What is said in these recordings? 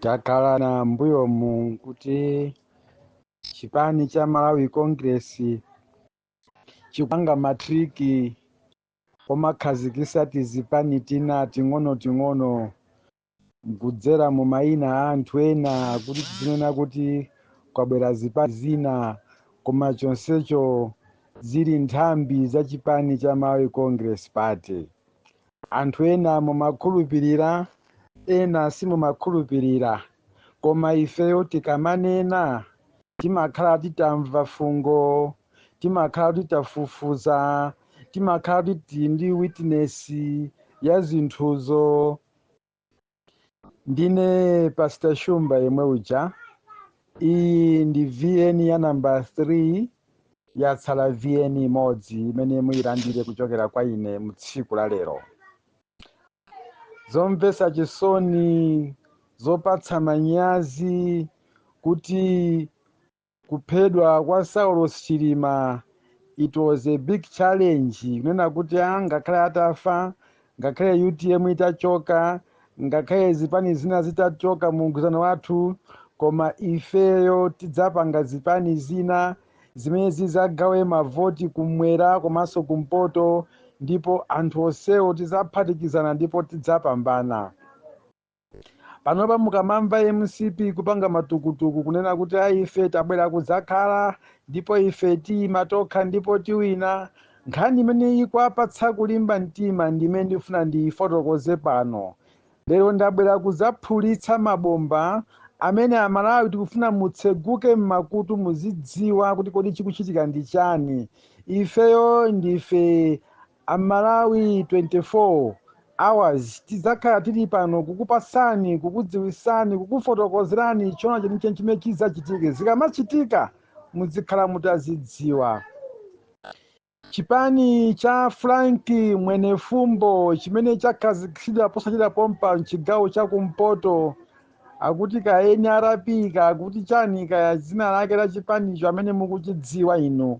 takhala na mbuyomu kuti chipani cha malawi congress chikupanga matriki omakhazikisa tizipani tina ting'onoting'ono kudzera mu mayina a anthu ena kuti tizinena kuti kwabwera zipani zina koma chonsecho zili nthambi za chipani cha malawi congress party Anthu ena mumakhulupirira ena simumakhulupirira koma ifeyo tikamanena timakhala titamva fungo, timakhala titafufuza, timakhala tili ndi witness ya zinthuzo. ndine pastor shumba yemwe uja iyi ndi vn ya namba 3 yatsala vn imodzi imene muyilandire kuchokera kwa ine mu tsiku la lero zomvetsa chisoni zopatsa manyazi kuti Kuphedwa kwa Saulos Chilima it was a big challenge kunena kuti a ngakhale atafa, ngakhale utm itachoka, ngakhale zipani zina zitachoka mu mgwirizano wathu koma ifeyo tidzapanga zipani zina zimene zidzagawe mavoti kumwera komanso kumpoto ndipo anthu onsewo tidzaphatikizana ndipo tidzapambana. panopa mukamamva mcp kupanga matukutuku kunena kuti ayi ife tabwera kudzakhala ndipo ife tiyima tokha ndipo tiwina nkhani imene ikuwapatsa kulimba mtima ndi imene ndikufuna ndiyifotokoze pano lero ndabwera kudzaphulitsa mabomba amene amalawi tikufuna mutseguke m'makutu muzidziwa kuti kodi chikuchitika ndi chani ifeyo ndife Amalawi 24 Hours tidzakhala tili pano kukupatsani, kukudziwitsani, kukufotokozerani choona chenicheni chimene chidzachitike. Zikamachitika mudzikhala mutazidziwa. Chipani cha Frank Mwenefumbo chimene chakhazikitsidwa posachedwa pompa mchigawo cha kumpoto akuti ka nrp ka akuti chani kaya dzina lake la chipanicho amene mukuchidziwa inu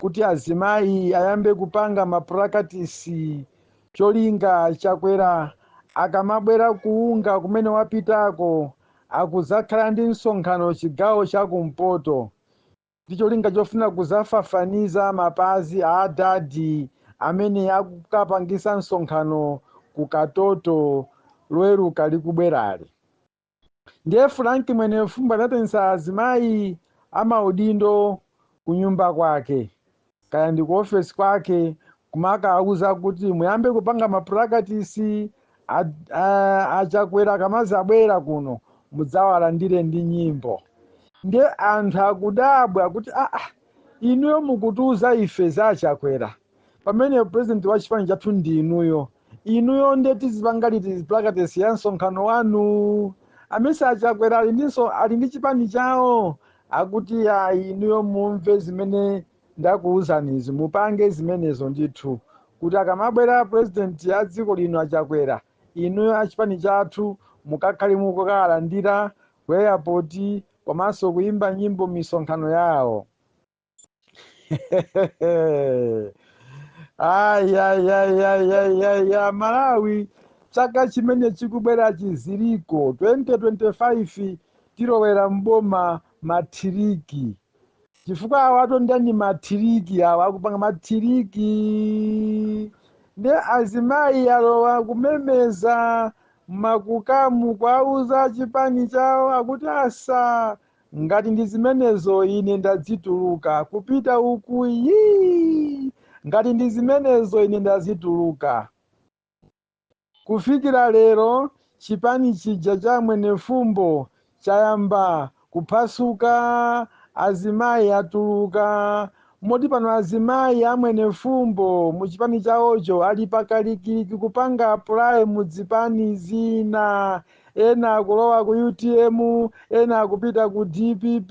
kuti azimayi ayambe kupanga mapulakatisi cholinga chakwera akamabwera ku UNGA kumene wapitako akuzakhala ndi msonkhano chigawo cha kumpoto ndi cholinga chofuna kuzafafaniza mapazi a adadi amene akukapangisa msonkhano ku katoto loweruka likubwerali ndiye frank mwenefumbo anaitanitsa azimayi amaudindo kunyumba kwake kaya ndi ku ofesi kwake kumakauza kuti muyambe kupanga mapulakatisi a- a- achakwera akamadzabwera kuno mudzawalandire ndi nyimbo ndiye anthu akudabwa kuti aa inuyo mukutiuza ife za achakwera pamene president wa chipani chathu ndi inuyo inuyo nde tizipanga liti practice ya msonkhano wanu amesa achakwera ali ndinso ali ndi chipani chawo akuti ayi inuyo mumve zimene ndakuwuzanizi mupange zimenezo ndithu kuti akamabwera president wa dziko lino achakwera inuyo achipani chathu mukakhale mukukawalandira ku airport komanso kuyimba nyimbo misonkhano yawo ayayayayaya malawi chaka chimene chikubwera chizilichi 2025 tilowera mboma mathiriki chifukwa awa atonda ndi mathiriki awa akupanga mathiriki ndi azimayi alowa kumemeza makukamu kuwauza achipani chawo akuti asa Ngati ndi zimenezo, ine ndadzituluka, kupita uku, yii! Ngati ndi zimenezo, ine ndadzituluka. Kufikira lero, chipani chija cha Amwenefumbo chayamba kuphwasuka, azimayi atuluka, moti pano azimayi a Mwenefumbo mu chipani chawocho ali pakalikiliki kupanga apply mu dzipani zina. ena akulowa ku utm ena akupita ku dpp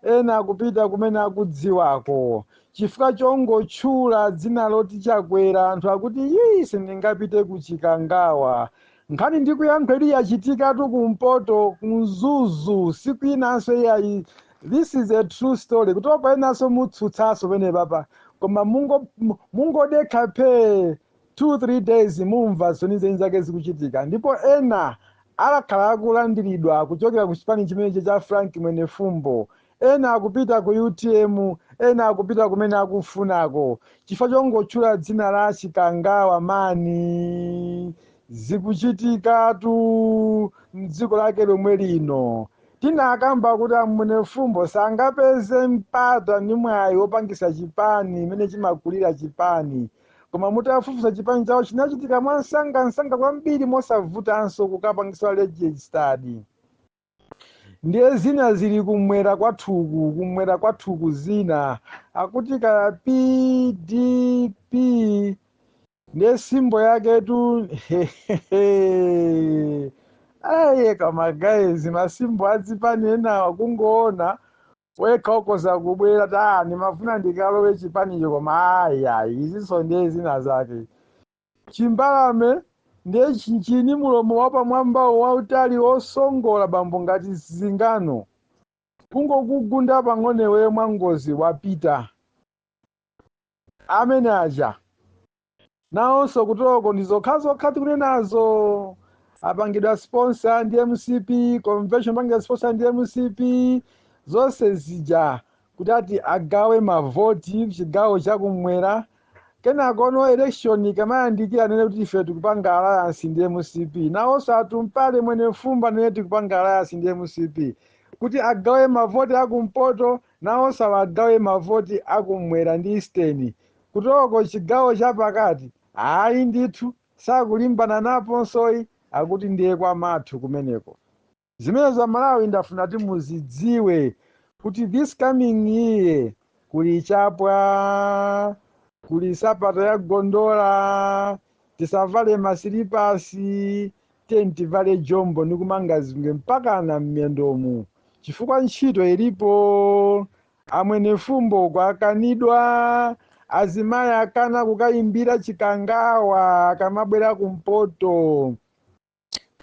ena akupita kumene akudziwako chifukwa chongotchula dzina loti chakwera anthu akuti yii sindingapite ku chikangawa nkhani ndikuyankhayi yachitikatu kumpoto kumzuzu sikwinanso iyayi this is a true story kutopa enanso mutsutsanso pene papa koma mungo- mu- mungodekha phee 2 3 days mumva zenizen zake zikuchitika ndipo ena azakhala akulandilidwa kuchokera ku chipani chimenechi cha frank mwenefumbo ena akupita ku utm ena akupita kumene akufunako chifukwa chongotchula dzina la chikangawa mani zikuchitikatu mdziko lake lomwe lino tinakamba kuti amwenefumbo sangapeze mpata ndi mwayi wopangisa chipani mmene chimakulira chipani koma mutafufuza chipani chawo chinachitika mwansangansanga kwambiri mosavutanso kukapangisa registered ndiye zina zili kumwera kwathuku kumwera kwathuku zina akuti ka pdp ndiye simbo yaketu aye kama guys masimbo azipani enawa kungoona wekha ukoza kubwera nimafuna ndikalowe chipanicho koma ayi ayi izinso ndiye zina zake chimbalame ndiye chinchini mulomo wapamwambawo wautali osongola bambo ngati zingano kungokugunda pang'onewe mwangozi wapita amene aja nawonso kutoko ndi zokhazokha tikunenazo apangidwa sponsor ndi mcp convention apangidwa sponsor ndi mcp zonse zija kuti ati agawe mavoti chigawo chakumwera kenakono election ikamayandikira anene kuti ife tikupanga alliance ndi mcp nawonso atumpale mwenefumbo anene tikupanga alliance ndi mcp kuti agawe mavoti akumpoto Nawonso agawe mavoti a kumwera ndi eastern. Kutoko chigawo cha pakati ayi ndithu sakulimbana naponsoyi akuti ndiye kwamathu kumeneko. Zimenezo amalawi ndafuna kuti muzidziwe kuti this coming year kuli chapwa kuli sapato ya gondola. tisavale masilipasi tiyeni tivale jombo nikumanga zingwe mpakana mmendomu chifukwa ntchito ilipo amwenefumbo kwakanidwa azimayi akana kukayimbira chikangawa akamabwera kumpoto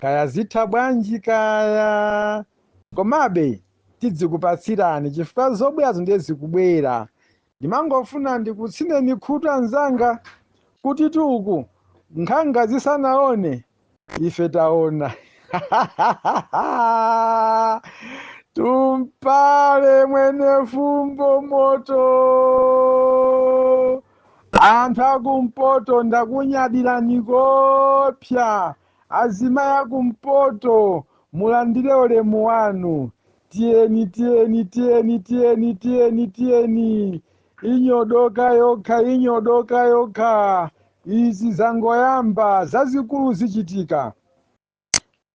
kaya zitha bwanji kaya komabe tidzikupatsirani chifukwa zobwerazo ndiye zikubwera ndimangofuna ndikutsineni khutu anzanga kuti tuku nkhanga zisanaone ife taona tumpale mwenefumbo moto Anthu akumpoto ndakunyadirani koopsa azimayi akumpoto mulandire ulemu wanu tiyeni tiyeni tiyeni tiyeni tiyeni tiyeni inyodoka yokha inyodoka yokha izi zangoyamba zazikulu zichitika